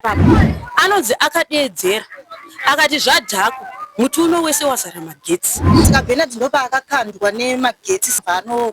Anonzi akadeedzera akati zvadhakwa muti uno wese wazara magetsi. Saka Bernard ndopaakakandwa nemagetsi zvano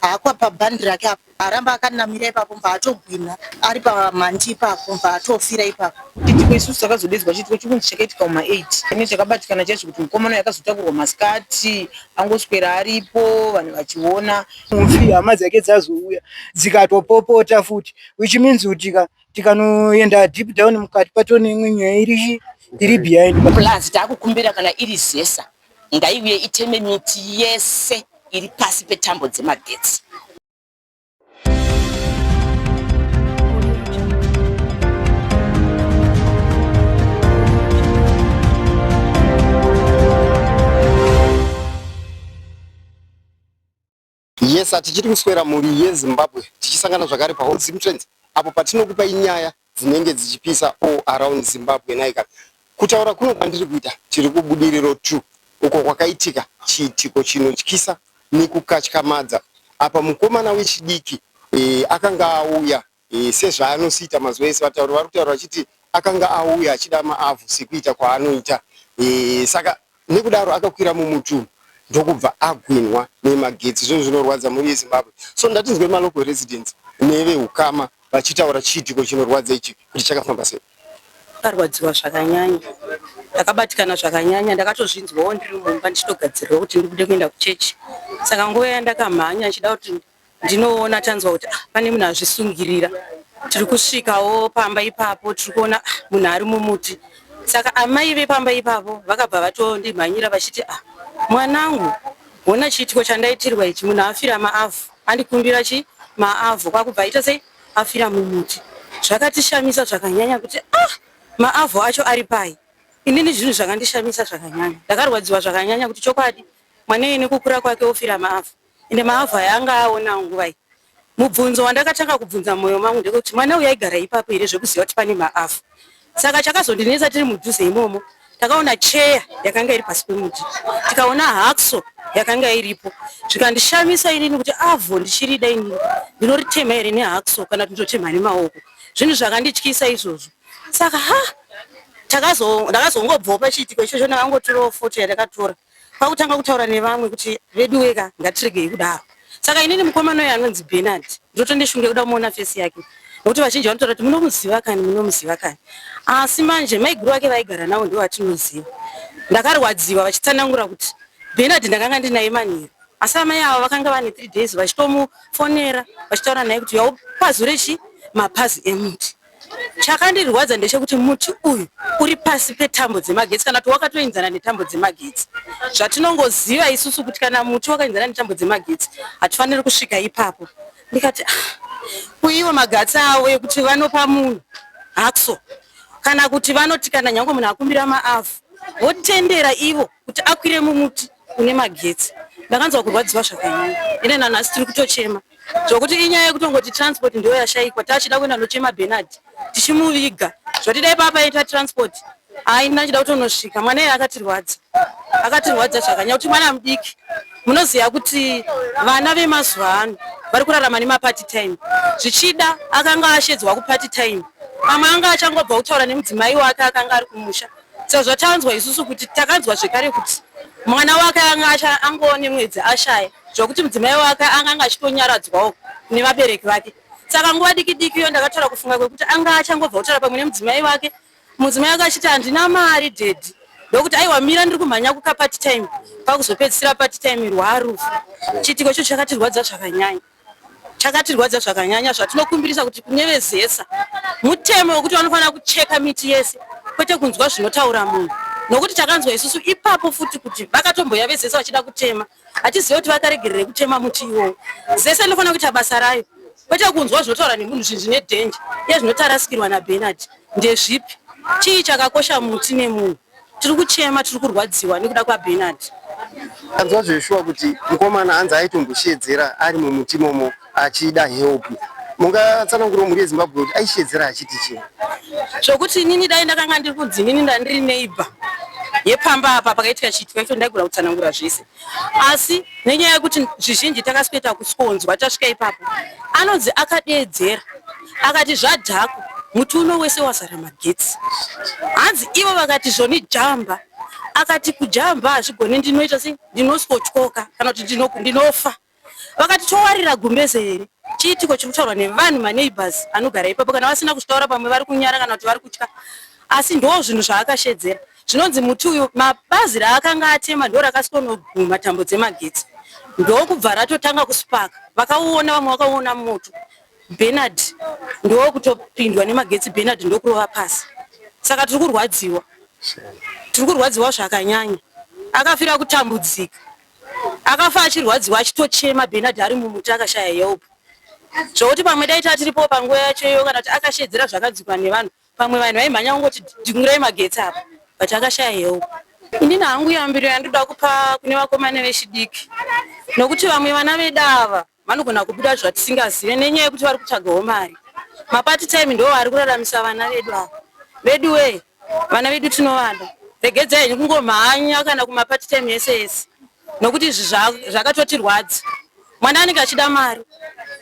hakwa pabhandi rake apo aramba akanamira ipapo mva atogwina ari pamandi ipapo mva atofira ipapo. Chiitiko isusu takazodedzwa chiitiko chokunzi chakaitika kuma 8 ine chakabatikana chacho kuti mukomana yakazotakurwa masikati angoswera aripo vanhu vachiona. Mufi hama dzake dzazouya dzikatopopota futi which means kuti ka tikanoenda deep down mukati pato neimwe nyaya iri iri behind plus takukumbira kana iri zesa ngaiuye iteme miti yese iri pasi petambo dzemagetsi Yes, hatichiri kuswera mhuri yeZimbabwe tichisangana zvakare paHot Zim Trends apo patinokupai nyaya dzinenge dzichipisa all around Zimbabwe nhaika. Kutaura kuno kwandiri kuita tiri kuBudiriro 2 uko kwakaitika chiitiko chinotyisa nekukatyamadza apa mukomana wechidiki eh, akanga auya sezvaanosiita mazuva ese vatauri vari kutaura vachiti akanga auya achida maavhu sekuita kwaanoita saka nekudaro akakwira mumutunhu ndokubva agwinhwa nemagetsi zvinhu zvinorwadza mhuri yezimbabwe so ndatinzwe malocal residents nevehukama vachitaura chiitiko chinorwadza ichi kuti chakafamba sei akarwadziwa zvakanyanya ndakabatikana zvakanyanya ndakatozvinzwawo ndiri mumba ndichitogadzirira kuti ndibude kuenda kuchechi saka nguva yandakamhanya ndichida kuti ndinoona tanzwa kuti ah, pane munhu azvisungirira tiri kusvikawo pamba ipapo tiri kuona ah, munhu ari mumuti saka amai vepamba ipapo vakabva vatondimhanyira vachiti ah, mwanangu hona chiitiko chandaitirwa ichi munhu afira maavhu andikumbira chi maavhu kwakubva aita sei afira mumuti zvakatishamisa zvakanyanya kuti ah, maavhu acho ari pai inini zvinhu zvakandishamisa zvakanyanya ndakarwadziwa zvakanyanya kuti chokwadi mwana iyene kukura kwake ofira maavhu ende mahavhu aya anga aonawo nguva iyi. Mubvunzo wandakatanga kubvunza mumwoyo mangu ndekuti mwana uyu aigara ipapo here zvekuziva kuti pane mahavhu. Saka chakazondinetsa tiri mudhuze imomo takaona cheya yakanga iri pasi pemuti tikaona hakso yakanga iripo zvikandishamisa inini kuti avo ndichirida inini ndinoritema here nehakso kana kuti ndotema nemaoko zvinhu zvakandityisa izvozvo saka ha ndakazongobvawo pachiitiko ichocho ndakangotorawo foto yandakatora kwakutanga kutaura nevamwe kuti veduweka ngatiregei kudaro saka inini mukomana uyo anonzi benard ndotondishunge kuda kumuona fesi yake nokuti vazhinji vanotaura kuti munomuziva kani munomuziva kani asi manje maiguru vake vaigara navo ndivo vatinoziva ndakarwadziwa vachitsanangura kuti benard ndakanga ndinaye manheru asi amai avo vakanga vane three days vachitomufonera vachitaura naye kuti yaupazure chi mapazi emuti Chakandirwadza ndechekuti muti uyu uri pasi petambo dzemagetsi kana kuti wakatoenzana netambo dzemagetsi. Zvatinongoziva isusu kuti kana muti wakaenzana netambo dzemagetsi hatifaniri kusvika ipapo. Ndikati ah, kuiwe magatsi avo ekuti vanopa munhu hakso kana kuti vanoti kana nyange munhu akumbira maavu votendera ivo kuti akwire mumuti une magetsi ndakanzwa kurwadziwa zvakanyanya ine nanhasi tiri kutochema zvokuti inyaya yekutongoti transport ndiyo yashaikwa tachida kuenda nochema benard tichimuviga zvoti dai papa aita transport haina chida kutonosvika mwana iye akatirwadza akatirwadza zvakanyanya kuti mwana mudiki munoziva kuti vana vemazuva ano vari kurarama nemaparty time zvichida akanga ashedzwa kuparty time pamwe anga achangobva kutaura nemudzimai wake akanga ari kumusha Sezvatanzwa isusu kuti takanzwa zvekare kuti mwana wake anga angova nemwedzi ashaya zvekuti mudzimai wake anga anga achitonyaradzwawo nevabereki vake. Saka nguva diki diki iyo ndakataura kufunga kwekuti anga achangobva kutaura pamwe nemudzimai wake. Mudzimai wake achiti handina mari daddy ndokuti aiwa mira ndiri kumhanya kuka part time kwakuzopedzisira part time rwarufu. Chiitiko ichocho chakatirwadza zvakanyanya. chakatirwadza zvakanyanya zvatinokumbirisa kuti kune vezesa mutemo wekuti vanofanira kucheka miti yese kwete kunzwa zvinotaura munhu nokuti takanzwa isusu ipapo futi kuti vakatomboya vezesa vachida kutema hatizive kuti vakaregerere kutema muti iwowo zese inofanira kuita basa rayo kwete kunzwa zvinotaura nemunhu zvinhu zvine dhenja iye zvinotarasikirwa nabenard ndezvipi chii chakakosha muti nemunhu tiri kuchema tiri kurwadziwa nekuda kwabenard anzwa zveshuwa kuti mukomana anzi aitombosheedzera ari mumuti momo achida help mungatsanangura mhuri yezimbabwe kuti aisheedzera achiti chii zvokuti inini dai ndakanga ndiri kunzi inini ndandiri neighbor yepamba apa pakaitika chiitika icho ndaigona kutsanangura zvese asi nenyaya yekuti zvizhinji takasikuita kusonzwa tasvika ipapo anonzi akadeedzera akati zvadhako muti uno wese wazara magetsi hanzi ivo vakati zvoni jamba akati kujamba hazvigoni ndinoita sei ndinozotyoka kana kuti ndinofa vakati towarira gumbeze here chiitiko chiri kutaurwa nevanhu maneighbors anogara ipapo kana vasina kuzvitaura pamwe vari kunyara kana kuti vari kutya asi ndoo zvinhu zvaakashedzera zvinonzi muti uyu mabazi raakanga atema ndo rakasikonoguma tambo dzemagetsi ndokubva ratotanga kuspaka vakauona vamwe vakauona moto benard ndokutopindwa nemagetsi benard ndokurova pasi saka tiri kurwadziwa tiri kurwadziwa zvakanyanya akafira kutambudzika Akafa achirwadziwa achitochema Bernard ari mumuti akashaya help zvokuti pamwe dai tatiripo panguva yacho iyo kana kuti akashedzera zvakadzikwa nevanhu pamwe vanhu vaimhanya kungoti dingurai magetsi apa but akashaya help. Inini hangu yambiro yandoda kupa kune vakomana vechidiki nokuti vamwe vana vedu ava vanogona kubuda zvatisingazive nenyaya yekuti vari kutsvagawo mari mapati time ndo ari kuraramisa vana vedu ava vedu wee vana vedu tinovada regedza henyu kungomhanya kana kumapati time yese yese nokuti izvi zvakatotirwadza mwana anenge achida mari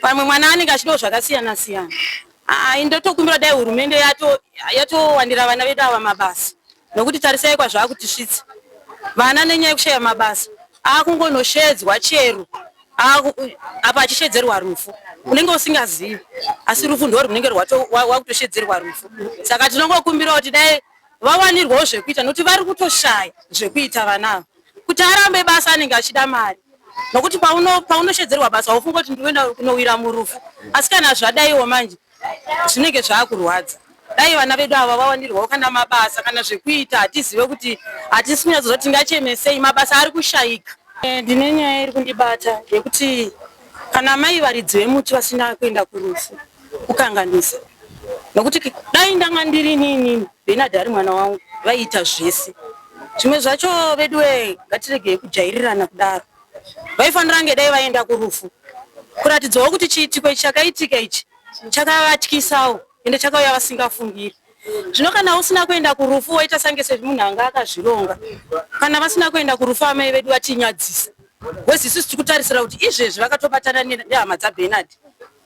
pamwe mwana anenge achidawo zvakasiyana siyana ndotokumbira dai hurumende yatowandira vana vedu ava mabasa nokuti tarisai kwazvakutisvitsa vana nenyaya yekushaya mabasa akungonoshedzwa chero apa achishedzerwa rufu unenge usingazivi asi rufu ndo runenge wakutoshedzerwa rufu saka tinongokumbirawo kuti dai vawanirwawo zvekuita nokuti vari kutoshaya zvekuita vanavo kuti arambe basa anenge achida mari nokuti paunoshedzerwa basa haufunga kuti ndikuenda kunowira murufu asi kana zvadaiwo manje zvinenge zvakurwadza dai vana vedu ava vawandirwawo kana mabasa kana zvekuita hatizive kuti hatisi kunyatsoziva kuti tingachemesei mabasa ari kushayika eh, ndine nyaya iri kundibata yekuti kana mai varidzi vemuti vasina kuenda kurufu kukanganisa nokuti dai ndanga ndiri niinini benard ari mwana wangu vaiita zvese zvimwe zvacho veduwe ngatiregei kujairirana kudaro vaifanira kunge dai vaenda kurufu kuratidzawo kuti chiitiko ichi chakaitika ichi chakavatyisawo ende chakauya vasingafungiri zvino kana usina kuenda kurufu woita sange semunhu anga akazvironga kana vasina kuenda kurufu amai vedu vatinyadzisa wezi isusu tiri kutarisira kuti izvezvi vakatobatana nehama dzabenard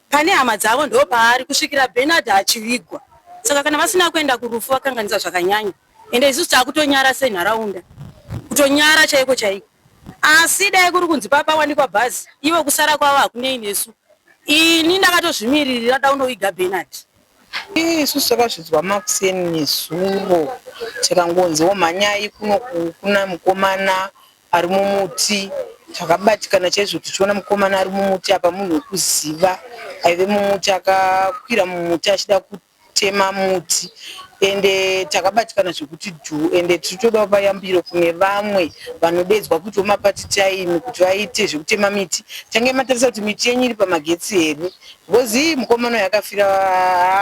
pane hama dzavo ndo paari kusvikira benard achivigwa saka kana vasina kuenda kurufu vakanganisa zvakanyanya ende isusu takutonyara senharaunda kutonyara chaiko chaiko asi dai kuri kunzi papawanikwa bhazi ivo kusara kwavo hakunei nesu ini ndakatozvimiririra daunoviga benard isusu takazvidzwa makuseni nezuro tikangonziwo mhanyai kuno kuna mukomana ari mumuti takabatikana chaizvo tichiona mukomana ari mumuti apa munhu wekuziva aive mumuti akakwira mumuti achida kuti kutema muti ende takabatikana zvekuti dhu ende tiri toda kupa yambiro kune vamwe vanodeedzwa kuti wemapati time kuti vaite zvekutema miti tange matarisa kuti miti yenyu iri pamagetsi here because iyi mukomana uyu akafira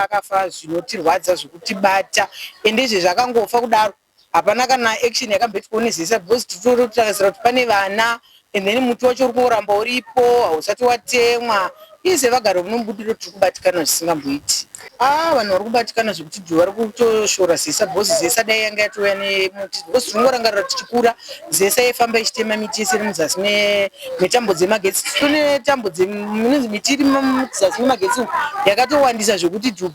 akafa zvinotirwadza zvekutibata ende izvezvi akangofa kudaro hapana kana action yakamboitwa nezesa because titoro takaziva kuti pane vana and then muti wacho uri kungoramba uripo hausati watemwa ize vagari vanombudiro tiri kubatikana zvisingamboiti ah vanhu vari kubatikana zvekuti dhu vari kutoshora zesa because zesa dai yanga yatouya nemuti because tinongorangarira tichikura zesa yaifamba ichitema miti yese iri muzasi metambo dzemagetsi tine tambo dzemunonzi miti iri muzasi memagetsi yakatowandisa zvekuti dhu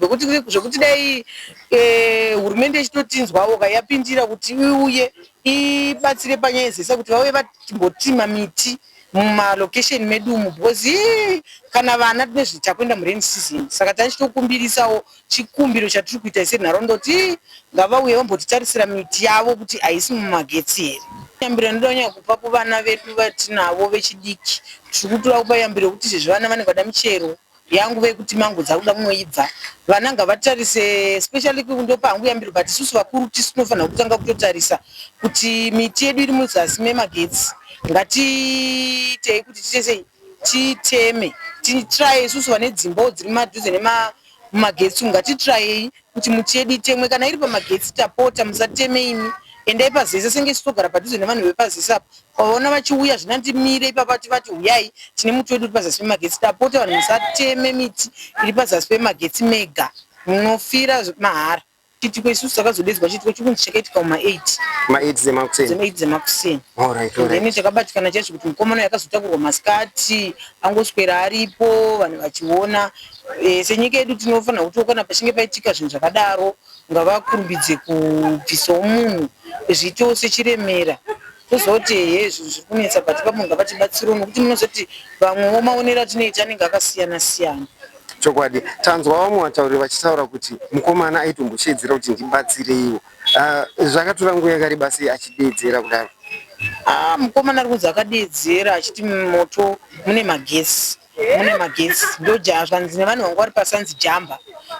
zvekuti dai Eh, hurumende ichitotinzwawo ka yapindira kuti iuye ibatsire panyaya dzese kuti vauye vatimbotima miti mumalocation medu umu because eh, kana vana tine zvi- takuenda murain season saka tachitokumbirisawo chikumbiro chatiri kuita senharaunda kuti eh, ngavauye vambotitarisira miti yavo kuti haisi mumagetsi here yambiro inoda kunyanya kupa kuvana vedu vatinavo vechidiki tiri kutoda kupa yambiro yekuti izvezvi vana vanenge vada michero yangu vekuti mango dzakuda kunoibva vana ngavatarise especially kundopa hangu yambiro but isusu vakuru tisu tinofanira kutanga kutotarisa kuti miti yedu iri muzasi memagetsi ngatiitei kuti titesei titeme titraye isusu vane dzimbawo dziri madhuze nemagetsi umu ngatitrayei kuti muti yedu itemwe kana iri pamagetsi tapota musateme imi endai pazesa senge isu togara padhuze nevanhu vepazesa apa kwavaona vachiuya zvina ndimire ipapa tivati huyai tine muti wedu uri pazasi pemagetsi tapota vanhu musateme miti iri pazasi pemagetsi mega munofira mahara chiitiko isusu takazodedzwa chiitiko chikunzi chakaitika kuma 8 dzemakuseni then takabatikana chaizvo kuti mukomana yakazota kurwa masikati angoswera aripo vanhu vachiona E, senyika yedu tinofanira kuti kana pachinge paitika zvinhu zvakadaro ngavakurumbidze kubvisawo munhu zviitewo sechiremera tozoti heye zvinhu zviri kunetsa but papo ngavatibatsirawo nokuti munozoti vamwewo maonero atinoita anenge akasiyana siyana chokwadi tanzwa vamwe vatauriri vachitaura kuti mukomana aitombosheedzera kuti ndibatsireiwo ah, zvakatora nguva yakareba sei achideedzera kudaro ah, mukomana ari kunzi akadeedzera achiti mumoto mune magesi mune magetsi ndoja zvanzi nevanhu vanga vari pasanzi jamba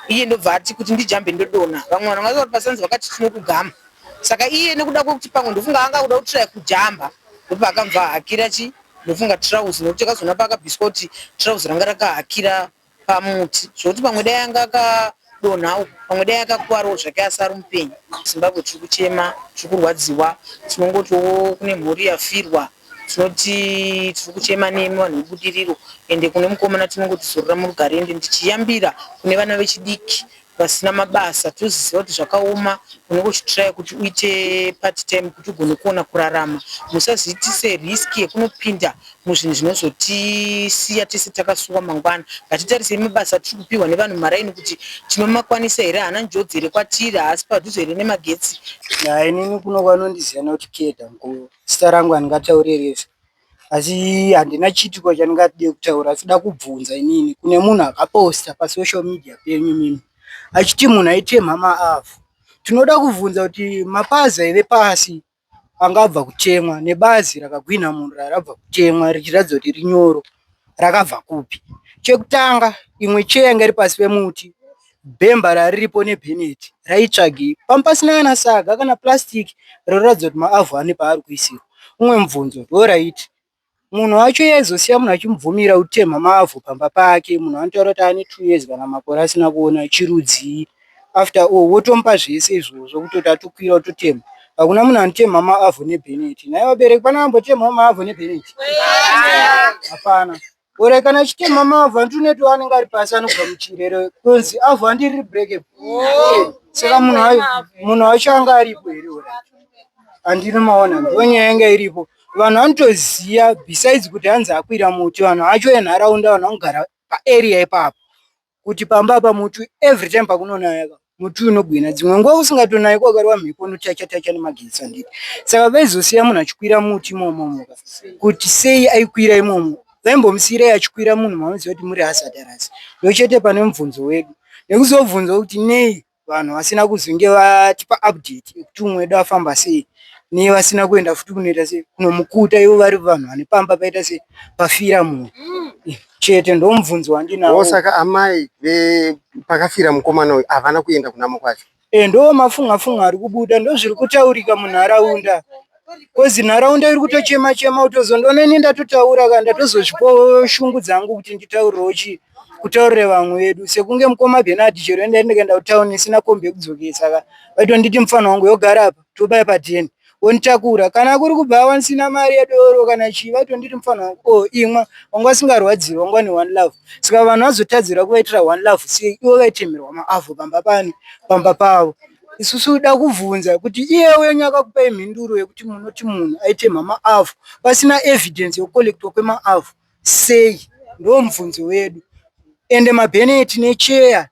iye ndobva ati kuti ndijambe ndodona vamwe vanhu vanga vari pasanzi vakati tinokugama saka iye nekuda kwekuti pamwe ndofunga anga kuda kutiraya kujamba ndopaakamva hakira chi ndofunga trouse nekuti akazoona paakabviswa kuti trouse ranga rakahakira pamuti zvokuti pamwe dai anga akadonha uku pamwe dai akakuwarawo zvake asi ari mupenyu zimbabwe tiri kuchema tiri kurwadziwa tinongotiwo kune mhuri yafirwa Tinoti tiri kuchema nemi vanhu veBudiriro ende kune mukomana tinongoti zorora murugare ende ndichiyambira kune vana vechidiki vasina mabasa toziziva kuti zvakaoma unenge uchitraya kuti uite part time kuti ugone kuona kurarama musazoitise risk yekunopinda muzvinhu zvinozotisiya tese takasuwa mangwana ngatitarisei mabasa atiri kupihwa nevanhu mumaraini kuti tinomakwanisa here haana njodzi here kwatiri haasi padhuze here nemagetsi Haa inini kuno vanondiziva nekuti Keda mkuru. Zita rangu handingataure refu asi handina chiitiko chandingade kutaura asi da kubvunza inini kune munhu akaposta pasocial media penyu mimi achiti munhu aitemha maavhu tinoda kubvunza kuti mapazi aive pasi angabva kutemwa nebazi rakagwinha munhu rarabva kutemwa richiratidza kuti rinyoro rakabva kupi? Chekutanga imwe cheya yanga iri pasi pemuti bhemba rariripo nebheneti raitsvagei panga pasina kana saga kana plastic roratidza kuti maavhu ane paari kuisirwa umwe mubvunzo ndoraiti munhu wacho iye aizosiya munhu achimubvumira kutemha maavhu pamba pake munhu anotaura kuti ane two years kana makore asina kuona chirudzii after all wotomupa zvese izvozvo kutoti atokwira ototema hakuna munhu anotemha maavho nebheneti nhai vabereki pane vambotemhawo maavho nebheneti hapana ore kana achitemha maavho hanti uneto anenge ari pasi anobva muchirere konzi avho handi riri breke saka munhu wacho anga aripo here ore handinomaona ndo nyaya yanga iripo vanhu vanotoziva besides kuti hanzi akwira muti vanhu vacho venharaunda vanhu vanogara paarea ipapo kuti pamba apa muti every time pakunonaya ka muti unogwina dzimwe nguva usingatonayi kwakarwa mhepo unotacha tacha nemagetsi handiti saka vaizosiya munhu achikwira muti imomomo ka kuti sei aikwira imomo vaimbomusiyirai achikwira munhu mamuziva kuti muri hazardous ndochete pane mubvunzo wedu nekuzobvunza kuti nei vanhu vasina kuzonge vatipa update yekuti umwe wedu afamba sei nevasina kuenda futi kunoita sei kunomukuta ivo vari vanhu vane pamba paita sei pafira munhu chete ndomubvunzo wandinawo saka amai pakafira mukomana uyu havana kuenda kunamo kwacho e ndo mafunga funga ari kubuda ndozviri kutaurika munharaunda kozi nharaunda iri kutochema chema kutozondonoine ndatotaura ka ndatozozvipo shungu dzangu kuti nditaurirewo chii kutaurire vamwe vedu sekunge mukoma bhena ati chero enda ndikaenda kutown isina kombi yekudzokesa ka vaitonditi mufana wangu yogara apa tobaya pateni wonitakura kana kuri kubva wanisina mari yedoro kana chii vaitonditi mufana wangu o oh, imwa wanga asingarwadziwa wanga ne one love saka vanhu vazotadzira kuvaitira one love sei ivo vaitemerwa maavho pamba pani pamba pavo isusu da kuvhunza kuti iye uyo nyakakupai mhinduro yekuti munoti munhu aite mhama avo pasina evidence yokukolektwa kwemaavo sei ndomubvunzo wedu ende mabheneti necheya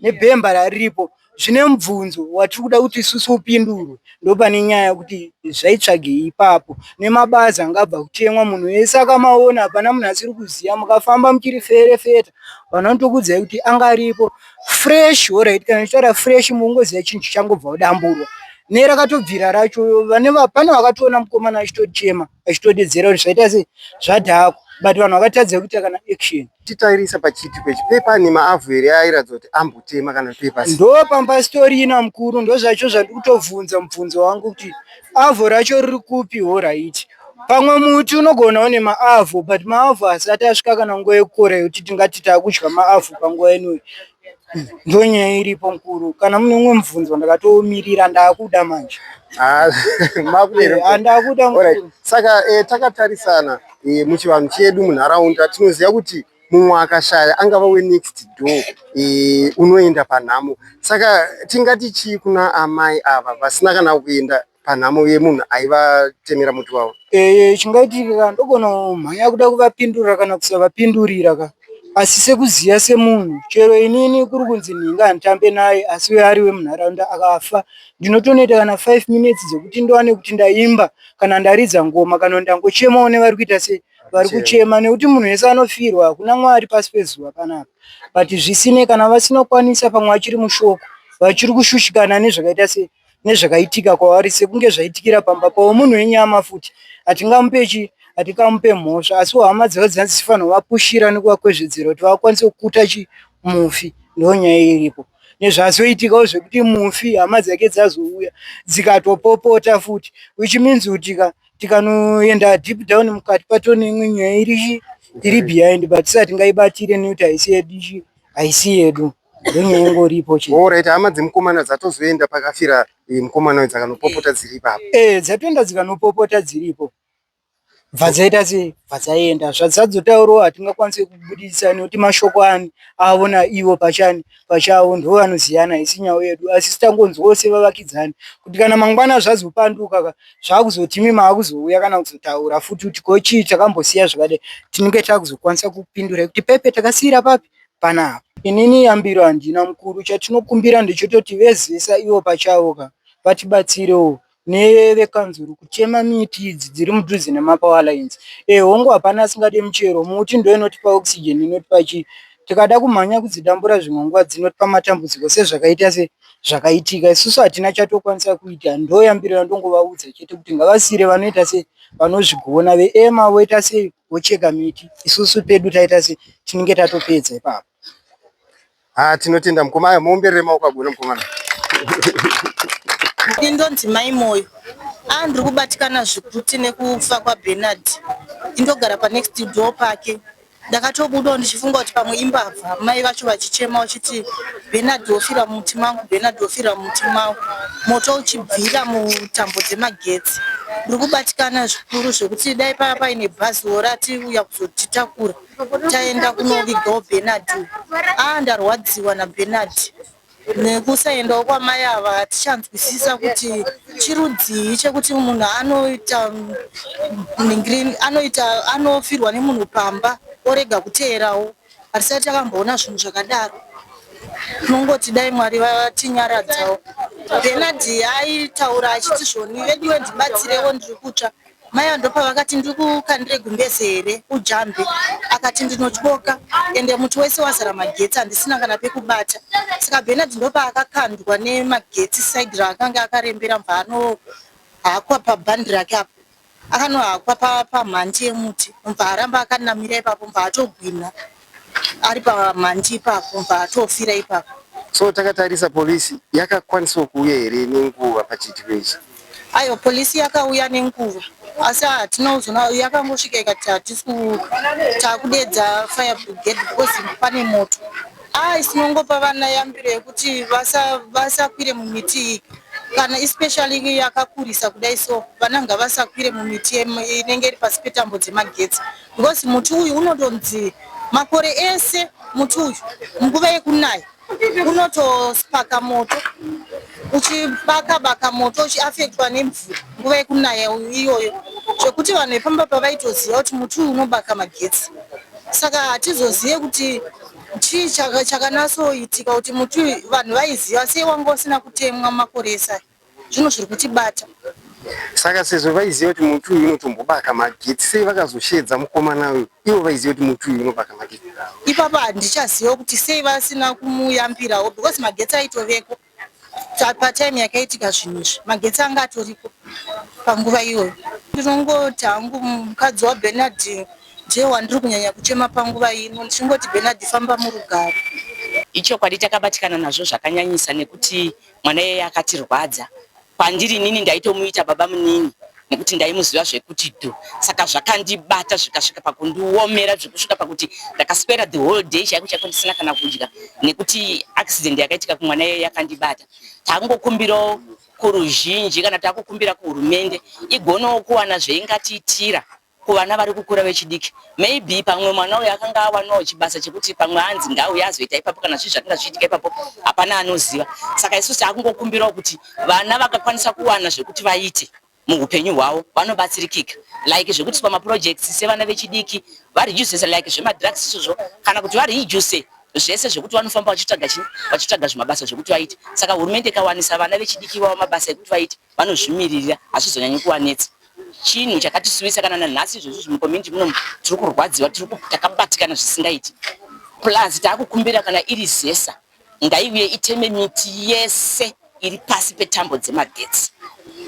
nebhemba rariripo zvine mubvunzo watiri kuda kuti isusu upindurwe ndopane nyaya yekuti zvaitsvagei ipapo nemabazi anga abva kutemwa munhu wese akamaona hapana munhu asiri kuziya mukafamba muchiri ferefeta vanhu vanotokuudzai kuti anga aripo fureshi horaiti kana ndichitaura fureshi mukungoziya chinhu chichangobva kudamburwa nerakatobvira racho vane va- pane vakatoona mukomana achitochema achitodedzera kuti zvaita sei zvadhakwa but vanhu vakatadza kuita kana action titairisa pachiitiko ichi pepa ane maavhu here airatidzwa kuti ambotema kana pepa ndo pamba story ina mukuru ndo zvacho zvandiri kutobvunza mubvunzo wangu kuti avhu racho riri kupi horaiti pamwe muti unogona une maavhu but maavhu asati asvika kana nguva yekukora yekuti tingati takudya maavhu panguva inoyi ndonyaya iripo mukuru kana mune umwe mubvunzo ndakatomirira ndakuda manje ah, eh, ndakuda saka eh, takatarisana eh, muchivanhu chedu munharaunda tinoziva kuti mumwe akashaya angava wenext door unoenda panhamo saka tingati chii kuna amai ava vasina kana kuenda panhamo yemunhu aivatemera muti wavo eh, chingaitika ndogona mhanya kuda kuvapindurira kana kusavapindurira ka asi sekuziva semunhu chero inini kuri kunzi nhinga handitambe naye asi uye ari wemunharaunda akafa ndinotonoita kana five minutes dzekuti ndowane kuti ndaimba kana ndaridza ngoma kana ndangochemawo nevari kuita sei vari kuchema nekuti munhu wese anofirwa hakuna mwari pasi pezuva panapa but zvisine kana vasinokwanisa pamwe vachiri mushoko vachiri kushushikana nezvakaita sei nezvakaitika kwavari sekunge zvaitikira pamba pavo munhu wenyama futi hatingamupe chi hatikamupe mhosva asi hama dzavo dzinanzi dzifanirwa vapushira nekuvakwezvedzera kuti vakwanise kukuta chi mufi ndo nyaya iripo nezvazoitikawo zvekuti mufi hama dzake dzazouya dzikatopopota futi which means kuti ka tikanoenda deep down mukati pato neimwe nyaya iri iri behind but sati ngaibatire nekuti haisi yedu haisi yedu Ndenyaya ingoripo chete. Alright, hama dzemukomana dzatozoenda pakafira eh, mukomana uyu dzakanopopota dziri ipapo. Eh, dzatoenda dzikanopopota dziripo. Bva dzaita sei? Bva dzaenda. Zvadzadzotaurawo hatingakwanise kubudisa nekuti mashoko ani avo naivo pachani pachavo ndivo vanoziyana isi nhau yedu asi sitangonzwawo sevavakidzani kuti kana mangwana zvazopanduka ka zvakuzotimi maakuzouya kana kuzotaura futi kuti ko chii takambosiya zvakadai tinenge takuzokwanisa kupindura kuti pepe takasiira papi panapa. Inini yambiro handina mukuru chatinokumbira ndechototi vezesa ivo pachavo ka vatibatsirewo nevekanzuru kutema miti idzi dziri mudhuze nemapower lines e hongu hapana asingade michero muti ndo inotipa oxygen inotipa chii tikada kumhanya kudzidambura zvimwe nguva dzinotipa matambudziko sezvakaita se zvakaitika isusu hatina chatokwanisa kuita ndoyambiro yandongovaudza chete kuti ngavasiire vanoita se vanozvigona veema voita sei vocheka miti isusu pedu taita se tinenge tatopedza ipapo ha tinotenda mukoma aya muomberere maoko agona mukomana ini ndonzi mai moyo a ndiri kubatikana zvikuti nekufa kwabenard indogara panext door pake ndakatobudawo ndichifunga kuti pamwe imbavha mai vacho vachichema vachiti Bernard wofira mumuti mangu, Bernard wofira mumuti mangu, moto uchibvira mutambo dzemagetsi. Ndiri kubatikana zvikuru zvekuti dai pava paine bhazi worati uya kuzotitakura taenda kunovigawo Bernard. Ah, ndarwadziwa naBernard nekusaendawo kwamai ava hatichanzwisisa kuti chirudzii chekuti munhu anoita anoita anofirwa nemunhu pamba orega kuteerawo Hatisati takamboona zvinhu zvakadaro. Tinongoti dai Mwari vatinyaradzawo. Bernard aitaura achiti zvoni veduwe ndibatsirewo ndiri kutsva. Mai ava ndopavakati ndiri kukandire gumbeze here ujambe akati ndinotyoka ende muti wese wazara magetsi handisina kana pekubata. Saka Bernard ndopaakakandwa nemagetsi side raakange akarembera mva anohakwa pabhandi rake apo. Akanohakwa pamhanti yemuti mubva aramba akanamira ipapo mubva atogwinha ari pamhanti ipapo mubva atofira ipapo. So takatarisa police yakakwanisawo kuuya here nenguva pachiitiko ichi? Aiwa police yakauya nenguva asi hatina kuzona yakangosvika ikati hatisi takudeedza fire brigade because pane moto. Haa isi mongopa vana yambiro yekuti vasakwire vasa mumiti iyi kana especially yakakurisa kudai so vana ngavasakwire mumiti inenge iri pasi petambo dzemagetsi because muti uyu unotonzi makore ese muti uyu nguva yekunaya unotospaka moto uchibaka baka moto uchiafektwa nemvura nguva yekunaya iyoyo zvekuti vanhu vepamba pavaitoziva kuti muti uyu unobaka magetsi saka hatizozive kuti Chii chaka- chakanatsoitika kuti muti uyu vanhu vaiziva sei wanga usina kutemwa makore ese aya zvino zviri kutibata saka sezvo vaiziva kuti muti uyu unotombobaka magetsi sei vakazosheedza mukomana uyu ivo vaiziva kuti muti uyu unobaka magetsi ipapa handichaziva kuti sei vasina kumuyambirawo because magetsi aitoveko Patime yakaitika zvinhu izvi magetsi anga atoripo panguva iyoyo. Ndinongoti hangu mukadzi waBernard ndiye wandiri kunyanya kuchema panguva ino ndichingoti Bernard famba murugare. Ichokwadi takabatikana nazvo zvakanyanyisa nekuti mwana iyeye akatirwadza Kwandiri inini ndaitomuita baba munini nekuti ndaimuziva zvekuti dhu saka zvakandibata zvikasvika pakundiomera zvekusvika pakuti ndakaswera the whole day chaiko chaiko ndisina kana kudya nekuti accident yakaitika kumwana iye yakandibata takungokumbirawo kuruzhinji kana takukumbira kuhurumende igonawo kuwana zveingatiitira kuvana vari kukura vechidiki maybe pamwe mwana uyu akanga awanawo chibasa chekuti pamwe anzi ngauye azoita ipapo kana zvii zvakanga zvichiitika ipapo hapana anoziva saka isu taakungokumbirawo kuti vana vakakwanisa kuwana zvekuti vaite muupenyu hwavo vanobatsirikika like zvekuti pamaprojects sevana vechidiki vareducese like zvemadrugs izvozvo kana kuti vareduce zvese zvekuti vanofamba vachitsvaga chii vachitsvaga zvimabasa zvekuti vaite saka hurumende ikawanisa vana vechidiki vavo mabasa ekuti vaite vanozvimiririra hazvizonyanyi kuvanetsa chinhu chakatisuwisa kana nanhasi izvozvi zvimucommunity muno tiri kurwadziwa tiri takabatikana zvisingaiti plus taakukumbira kana iri zesa ngaiuye iteme miti yese iri pasi petambo dzemagetsi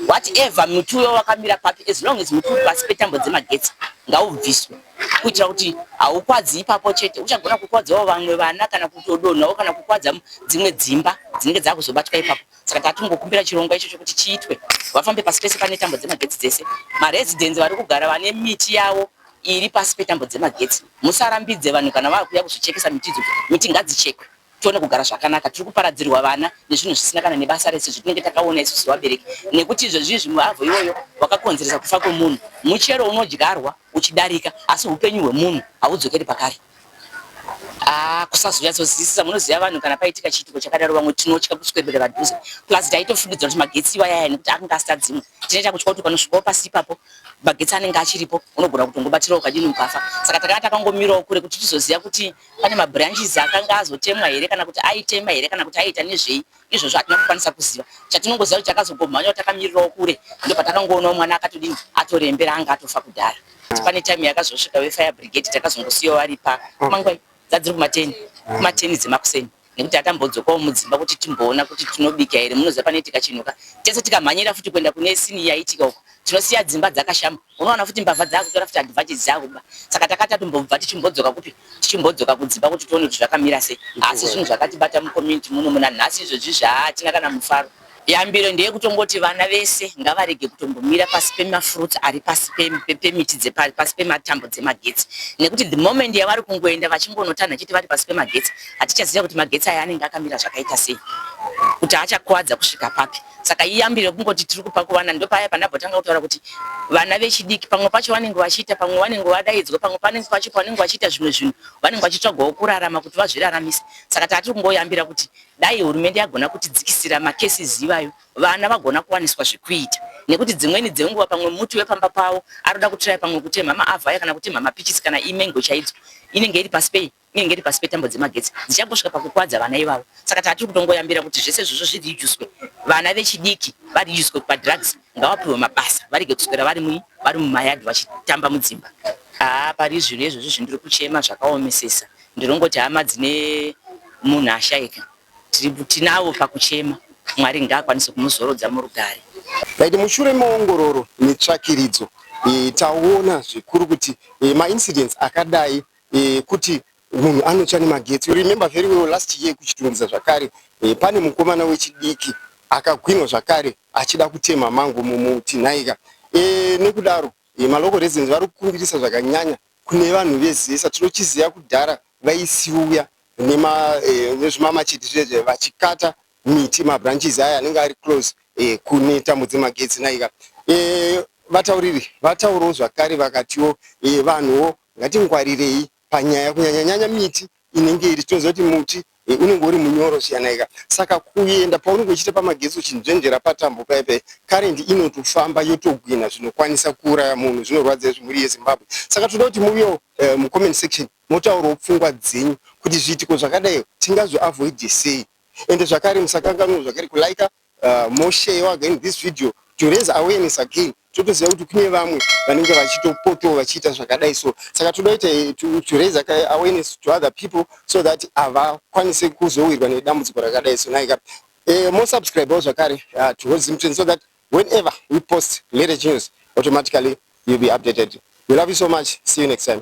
whatever muti uyo wakamira papi as long as muti uri pasi petambo dzemagetsi ngaubviswe kuitira kuti haukwadzi ipapo chete uchagona kukwadzawo vamwe vana kana kutodonhawo kana kukwadza dzimwe dzimba dzinenge dzakuzobatwa ipapo saka tatikungokumbira chirongwa icho chokuti chiitwe vafambe pasi pese pane tambo dzemagetsi dzese maresidents vari kugara vane miti yavo iri pasi petambo dzemagetsi musarambidze vanhu kana vakuya kuzochekesa miti idzodzo miti ngadzichekwe tione kugara zvakanaka tiri kuparadzirwa vana nezvinhu zvisina kana nebasa rese zvitinenge takaona isu sevabereki nekuti izvezvizvi muavho iwoyo wakakonzeresa kufa kwemunhu muchero unodyarwa uchidarika asi upenyu hwemunhu haudzokeri pakare Ah, kusazonyatsozivisisa munoziva vanhu kana paitika chiitiko chakadaro vamwe tinotya kuswedera padhuze plus taitofungidzira kuti magetsi iwa yaya nekuti akanga asita dzimwe tinoita kutya kuti panosvikawo pasi ipapo magetsi anenge achiripo unogona kutongobatira ukadini ukafa saka takanga takangomirawo kure kuti tizoziva kuti pane mabranches akanga azotemwa here kana kuti aitema here kana kuti aiita nezvei izvozvo hatina kukwanisa kuziva chatinongoziva kuti takazogomhanyawo takamirirawo kure ndo patakangoonawo mwana akatodini atorembera anga atofa kudhara ah. pane time yakazosvika vefire brigade takazongosiyawo vari pa ah. mangwai dzadziri kumateni ah. kumateni dzemakuseni nekuti atambodzokawo mudzimba kuti timboona kuti tinobika here munoziva panoitika chinhuka tese tikamhanyira futi kuenda kune sini yaitika uko tinosiya dzimba dzakashama unowana futi mbavha dzakutora futi advantage dzakuba saka takati tombobva tichimbodzoka kupi tichimbodzoka kudzimba kuti tione kuti zvakamira sei asi zvinhu zvakatibata mucommunity muno muna nhasi izvozvi zvaatina kana mufaro yambiro ndeye kutongoti vana vese ngavarege kutombomira pasi pemafruits ari pasi pemiti dzepasi pematambo dzemagetsi nekuti the moment yavari kungoenda vachingonotanha chiti vari pasi pemagetsi hatichaziva kuti magetsi aya anenge akamira zvakaita sei kuti achakuwadza kusvika papi saka iyambi rekungoti tiri kupa kuvana ndopaya pandabotanga kutaura kuti vana vechidiki pamwe pacho vanenge vachiita pamwe vanenge vadaidzwa pamwe panenge pacho pavanenge vachiita zvimwe zvinhu vanenge vachitsvagawo kurarama kuti vazviraramise saka tatiri kungoyambira kuti dai hurumende yagona kutidzikisira makesis ivayo vana vagona kuwaniswa zvekuita nekuti dzimweni dzenguva pamwe muti wepamba pavo aroda kutiraya pamwe kutemha maavhaya kana kutemha mapichisi kana imengo chaidzo inenge iri pasi pei Nyaya ingeri pasi petambo dzemagetsi dzichangosvika pakukwadza vana ivavo saka tatiri kutongoyambira kuti zvese izvozvo zvirijuswe vana vechidiki varijuswe padrugs ngavapiwe mabasa varege kuswera vari mu vari mumayadhi vachitamba mudzimba haa pari zvinhu izvozvo zvindiri kuchema zvakaomesesa ndinongoti hama dzine munhu ashaika tinavo pakuchema mwari ngaakwanise kumuzorodza murugare Right, mushure meongororo netsvakiridzo e, taona zvikuru kuti e, maincidents akadai eh, kuti munhu anotsva nemagetsi you remember very well last year kuchitungidza zvakare eh, pane mukomana wechidiki akagwinwa zvakare achida kutema mango mumuti nhaika eh, nekudaro eh, malocal residents vari kukumbirisa zvakanyanya kune vanhu vezesa tinochiziva kudhara vaisiuya eh, nezvimamachiti eh, zvezve vachikata miti mabranches aya anenge ari close eh, kune tambo dzemagetsi nhaika eh, vatauriri vataurawo zvakare vakatiwo eh, vanhuwo Ngatingwarirei panyaya kunyanya nyanya miti inenge iri tinoziva kuti muti eh, unenge uri munyoro zviyanaika saka kuenda paunenge uchiita pamagetsi uchinzvenzvera patambo paye paye karendi inotofamba yotogwina zvinokwanisa kuuraya munhu zvinorwadza izvi mhuri yezimbabwe saka tinoda kuti muviwo eh, mucomment section motaurawo pfungwa dzenyu kuti zviitiko zvakadai tingazviavoide sei ende zvakare musakanganwo zvakare kulaika uh, more share again this video to raise awareness again totoziva kuti kune vamwe vanenge vachitopotowo vachiita zvakadai so saka toda kuita eh, to, to raise awareness to other people so that havakwanise kuzowirwa nedambudziko rakadai so naika uh, eh, more subscribewo zvakare uh, to holy zimtren so that whenever we post marriage news automatically you'll be updated we love you so much see you next time